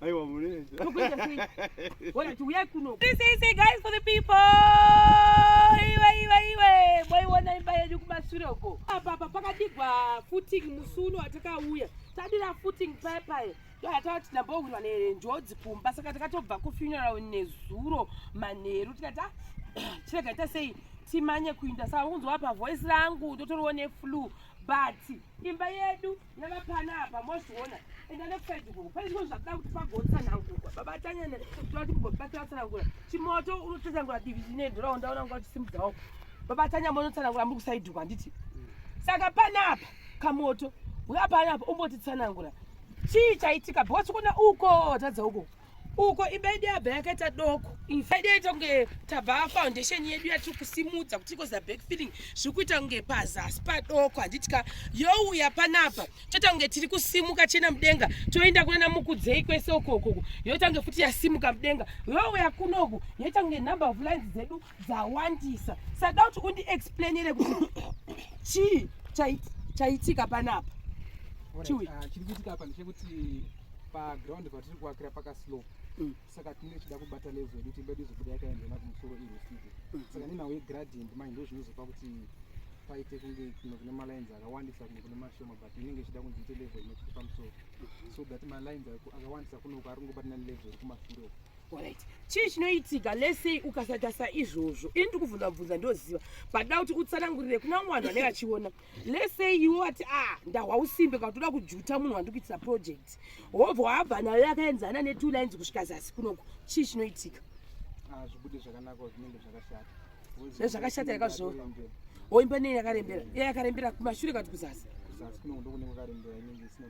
Aiwa mureja. Tokuita sei? Wona tiuya kuno. This is the guys for the people. Iwe iwe iwe. Boy wona imba yedu kumashure uko. Apa apa pakadigwa footing musuno watakauya. Tadira footing paye paye. Yatawa tinambowirwa nenjodzi kumba saka takatobva kufuneral nezuro manheru tikati ah, chirega ita sei timanye kuinda saka kunzwa apa voice rangu ndotoriwo neflu but imba yedu Yava pana apa mozviona enda nekusaidi kuko pane zvimwe zvakuda kuti pagotsanangurwa baba tanyana toda kuti mugobatira tsanangura chimoto unotsanangura divi rine dhora undaona kunga uchisimudzawo baba tanya monotsanangura muri kusaidi kwa nditi saka pana apa kamoto uya pana apa umbotitsanangura chii chaitika because kuona uko tadza uko uko imba yedu yabva yakaita doko infaida yaita kunge tabva foundation yedu yatiri kusimudza kuti ikoza back feeling zviri kuita kunge pazasi padoko handiti ka youya panapa toita kunge tiri kusimuka chena mudenga toenda kunana mukudzei kwese ukokoko yoita kunge futi yasimuka mudenga youya kunoku yoita kunge number of lines dzedu dzawandisa sada kuti undiexplainire kuti chii chaitika panapa ah, chiri kuitika apa ndechekuti paground patiri kuakira pakaslope mm. saka tinenge tichida kubata level yedu timbe tizobuda yakaendema kumusoro iri usiku mm. saka nenhau yegradient manje ndo zvinozopa kuti paite kunge kuno kune malines akawandisa kuno kune mashoma but inenge ichida kunzi ite level inokuti pamusoro mm-hmm. so that malines akawandisa kunoko ari kungobatana nelevel yekumasure uku Alright. Chii chinoitika let's say ukasaita saizvozvo ini ndiri kubvunza bvunza ndoziva but da kuti utsanangurire kuna vamwe vanhu vanenge vachiona let's say iwe wati ah ndahwa usimbe kana toda kujuta munhu wandiri kuitisa project hobva wabva nayo yakaenzana netwo lines kusvika zasi kunoku chii chinoitika ah, zvibude zvakanaka zvinenge zvakashata nezvakashata yakazvo oimba nei yakarembera iya yakarembera kumashure kati kuzasi kuzasi kunoku ndokunenge kwakarembera inenge isina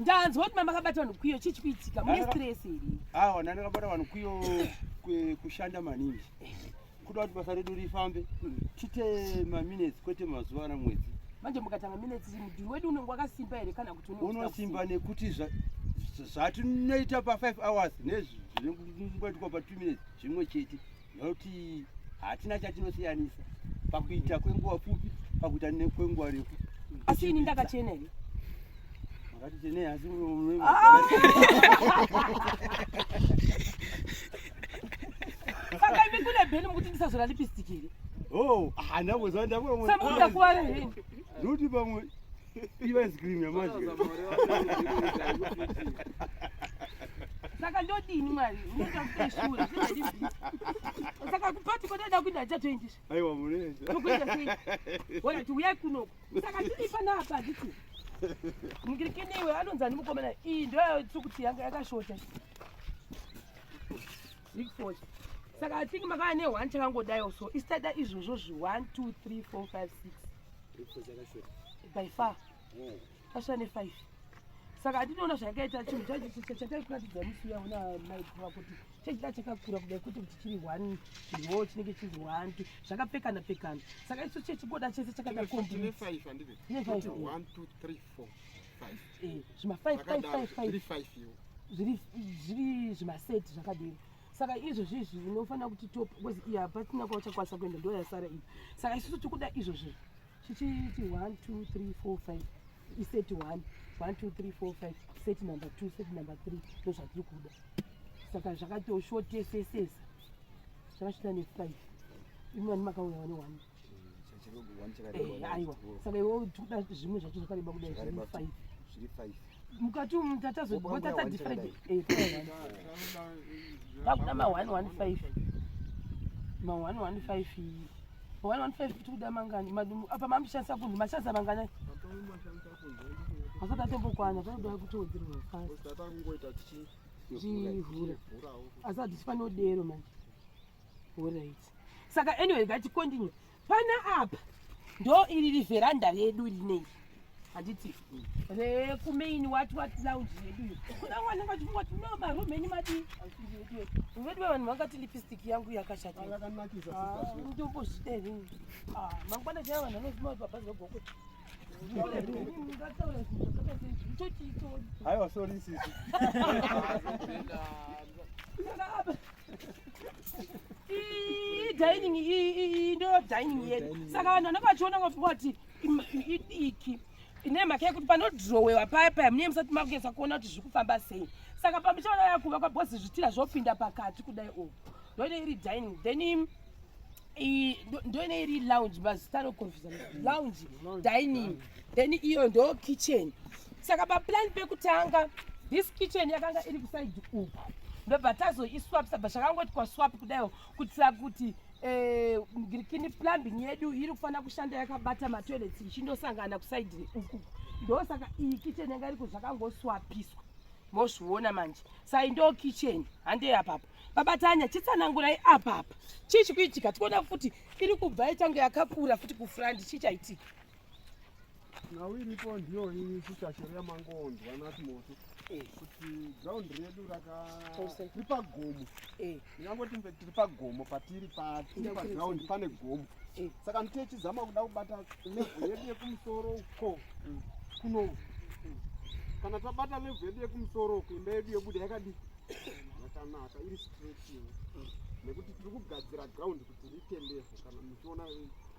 Ndanzwa kuti mama akabata vanhu kwiyo chii chikuitika mune stress here? Awa nani akabata vanhu kwiyo kushanda maningi kuda kuti basa redu rifambe hmm. tiite maminutes kwete mazuva ana mwedzi manje mukatanga minutes mudhuri wedu unenge wakasimba here kana kuti unosimba nekuti zvatinoita pa5 hours nezvinengoitwa pa2 minutes zvimwe chete nokuti hatina chatinosiyanisa pakuita kwenguva pfupi pakuita kwenguva refu asi ini ndakachena here makatichene asi ah! saka imi kune bheni mukuti ndisazora lipistiki here oh, handamboziva ndakuti pamwe Iva ice cream yamadya. Saka ndodini mwari? Unoita kuita shure. Saka kupati kwatida kuita achatoendesha. Aiwa munoenda. Tokuita sei? Wona tiuyai kunoku. Saka tiri panapa ndiku. Mukirikini iwe anonzi ani mukomana iyi ndoyo tsukuti yanga yakashota. Big force. Saka I think makava ne one chakangodayo so istada izvozvo zvi 1 2 3 4 5 6. by far tasvira nefive saka hatinoona zvayakaita chinhu chacho chataikuratidza musi uya una maikuva kuti chachida chakakura kudai kuti kuti chiri one chiriwo chinenge chiri one two zvakapfekana pfekana saka isu chechigoda chese chakaita kombiine five zvima five five five five zviri zvimaseti zvakadini saka izvozvi izvi unofanira kuti top because iya hapasina kwauchakwanisa kuenda ndo yasara iyi saka isusu tikuda izvozvi chichiiti one two three four five iset one one two three four five set number two set number three ndo zvatiri kuda saka zvakatoshotesesesa zvakasvita nefive imani makauya wane one aiwa saka iwe tikuda zvimwe zvacho zvakareba kudai zviri five zviri five mukati umu tatazotatatifride takuda ma one one five ma one one five ma one one five tikuda mangani apa mamushandisa kunhu mashandisa mangani asati atombokwana panoda kutowedzerwa fast zvivhura asati tifanodero manje orit saka anyway ngatikontinue pana apa ndo iri riveranda redu rinei handiti rekumain wat wat lounge redu iyo kuna wana vachingoti no maroom enyu madii vedu vavanhu vangati lipstick yangu yakashataindombozvidei ah, ah, mangwana chaya vanhu vanozima kuti baba zogoko aiwa sorry sisi dining iyi ndo dining yedu saka vanhu vanenge vachiona ngavati idiki ine mhaka yekuti panodhirowewa paya paya mune musati makunyatsa kuona kuti zviri kufamba sei saka pamuchaona yakuva kwabhozi zvitira zvopinda pakati kudai uku ndoine iri dining then ndoine iri lounge mazita anoconfusa lounge dining mm. then iyo ndo kitchen saka paplan pekutanga this kitchen yakanga iri kusaidi uku ndobva tazoiswapisa bva zvakangoti kwaswap kudaiwo kuitira kuti eh, ngirikini plumbing yedu iri kufanira kushanda yakabata matoilets ichindosangana kusaidi uku ndosaka iyi kitchen yanga iriko zvakangoswapiswa mozviona manje sai ndo kitchen handei apapo babatanya chitsanangurai apapa chii chikuitika tikuona futi iri kubva itange yakakura futi kufrandi chii chaitika nhau iripo ndiyo iyi kuchachero yamangondwa nati moto eh. kuti ground redu rakatiri pagomo eh. ingangoti mbe tiri pagomo patiri patiri paground pane gomo eh. saka nditi echizama kuda kubata levo yedu yekumusoro uko mm. kuno mm. kana tabata levo yedu yekumusoro uko imba yedu yobuda yakadii yakanaka iri straight nekuti tiri kugadzira ground kuti rite levo kana muchiona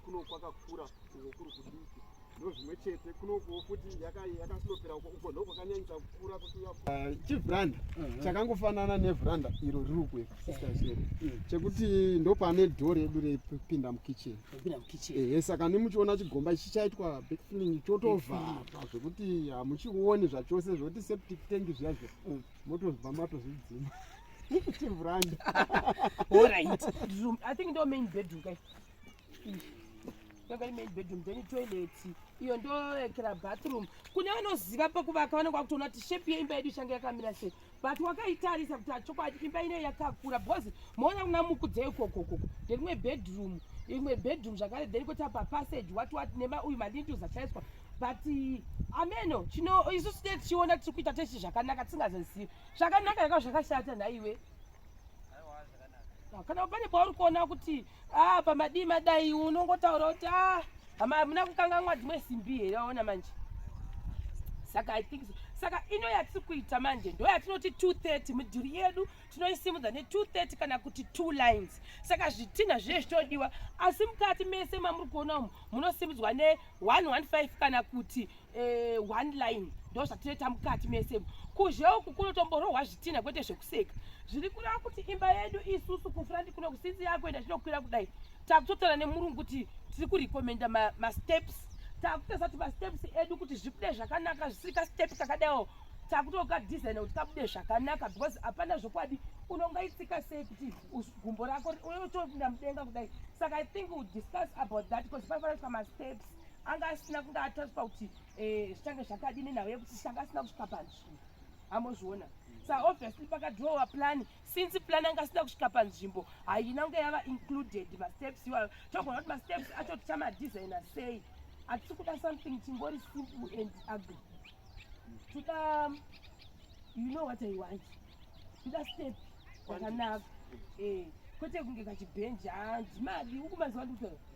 kuno kwakakura uko kuri kudiki ndozvimwe chete kunokuwo futi yakasilopera uko uko ndokwakanyanyisa kukura kuchivhuranda ah, uh-huh. chakangofanana nevhuranda iro riri uku sistazedu mm. chekuti ndopane dho redu repinda mukitchen ehe saka nemuchiona chigomba ichi chaitwa backfilling chotovharwa zvekuti hamuchioni zvachose zvekuti septic tank zviya zviya mm. motozva matozvidzima chivhuranda i think ndo main bedroom kai yanga ine bedroom then toilet iyo ndoekera bathroom kune vanoziva pekuvaka vanenge vakutoona kuti shape yeimba yedu ichange yakamira sei but wakaitarisa kuti achokwadi imba ine yakakura because moona kuna mukudze ikokoko nderimwe bedroom imwe bedroom zvakare then koti apa passage wati wati nema uyu mandindu zachaiswa but ameno chino isu sine tichiona tiri kuita tese zvakanaka tisingazozivi zvakanaka yakao zvakashata nhaiwe kana pane pauri kuona kuti ah, pamadii madai unongotaura kuti ah, hama hamuna kukanganwa dzimwe simbi here waona manje saka i think so saka ino yatiri kuita manje ndo yatinoti 230 midhuri yedu tinoisimudza ne230 kana kuti two lines saka zvitinha zviye zvichodiwa asi mukati mese mamuri kuona umu munosimudzwa ne115 kana kuti eh, one line ndo zvatinoita mukati mese kuzhe uku kunotomborohwa zvitina kwete zvekuseka zviri kureva kuti imba yedu isusu kufrandi kuno kusinzi yakuenda tinokwira kudai takutotaura nemurungu kuti tiri kurekomenda masteps ma takutesa kuti masteps edu kuti zvibude zvakanaka zvisiri kastep kakadaiwo takutoka design kuti kabude zvakanaka because hapana zvokwadi unongaitsika sei kuti gumbo rako unotoinda mudenga kudai saka i think we discuss about that because paifanira kuita masteps anga asina kunge ataswa kuti eh, zvichange zvakadi nenhau yekuti changa asina kusvika panzvimbo amozviona sa obviously pakadrowa plani since plani anga asina kusvika panzvimbo haina kunge yava included masteps iwayo togona kuti masteps acho tichamadesigna sei hatisi kuda something chingori simple and ugly toda you know what i want toda step yakanaka eh, kwete kunge kachibhenji handimadi ukumaziva ndikutoa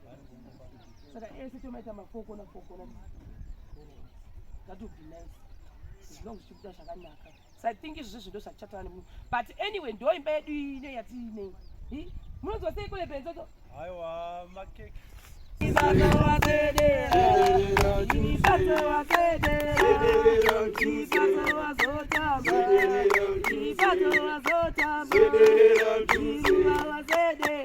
saka ese tomaita mafokona fokona that would be nice as long as tichibuda zvakanaka so i think izvozvo zvido zvatichataura nemunhu but anyway ndo imba yedu ine yatiinei munonzwa sei kule benzoto aiwa makeke Thank you.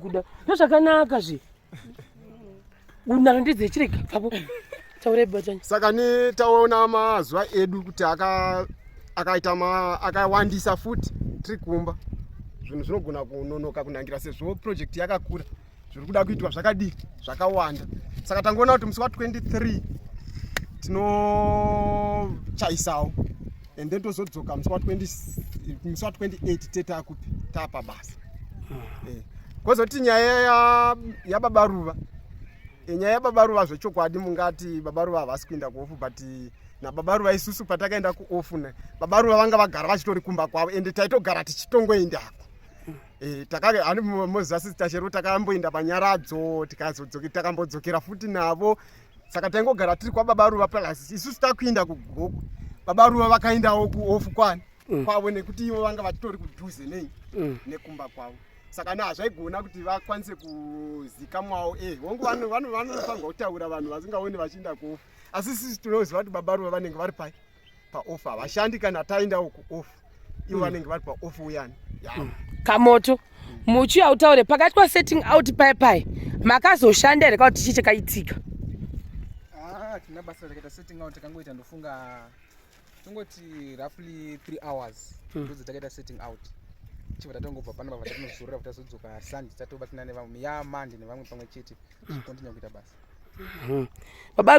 kuda ndozvakanaka zve unana ndidze chirega papo taure batanya saka ni taona mazuva edu kuti akaita akawandisa futi tiri kumba zvinhu zvinogona kunonoka kunangira sezvo project yakakura zviri kuda kuitwa zvakadii zvakawanda saka tangoona kuti musi wa 23 tinochaisawo and then tozodzoka musi wa 28 te takupi tapa basa ah. eh. kozoti nyaya yababa ruva eh, nyaya yababa ruva zvechokwadi mungati baba ruva havasi kuinda kuofu but nababa ruva isusu patakaenda kuofu ne baba ruva vanga vagara vachitori kumba kwavo ende taitogara tichitongoendako Eh, takave ani mozasi tachero takamboenda panyaradzo tikazodzoke takambodzokera futi navo saka taingogara tiri kwababa ruva plus isusu takuinda kugogo baba ruva vakaindawo kuofu kwani mm. kwavo nekuti ivo vanga vachitori kudhuze nei mm. nekumba kwavo saka na hazvaigona kuti vakwanise kuzikamwawo e eh, hongu vanofanirwa kutaura vanhu vasingaoni vachiinda kuofu asi sisi tinoziva kuti baba ruva vanenge vari pai paoff havashandi kana taendawo kuoff ivo hmm. vanenge vari paoff uyani hmm. kamoto hmm. muchi autaure pakati pa setting out pai pai makazoshanda here kauti chii chakaitika ah, tina basa rakaita setting out takangoita ndofunga tongoti roughly three hours ndodzo takaita setting out chibva tatongobva pano pava tatinozorora kuti tazodzoka sanje tatobatsina nevamwe ya mandi nevamwe pamwe chete tichikontinya kuita basa baba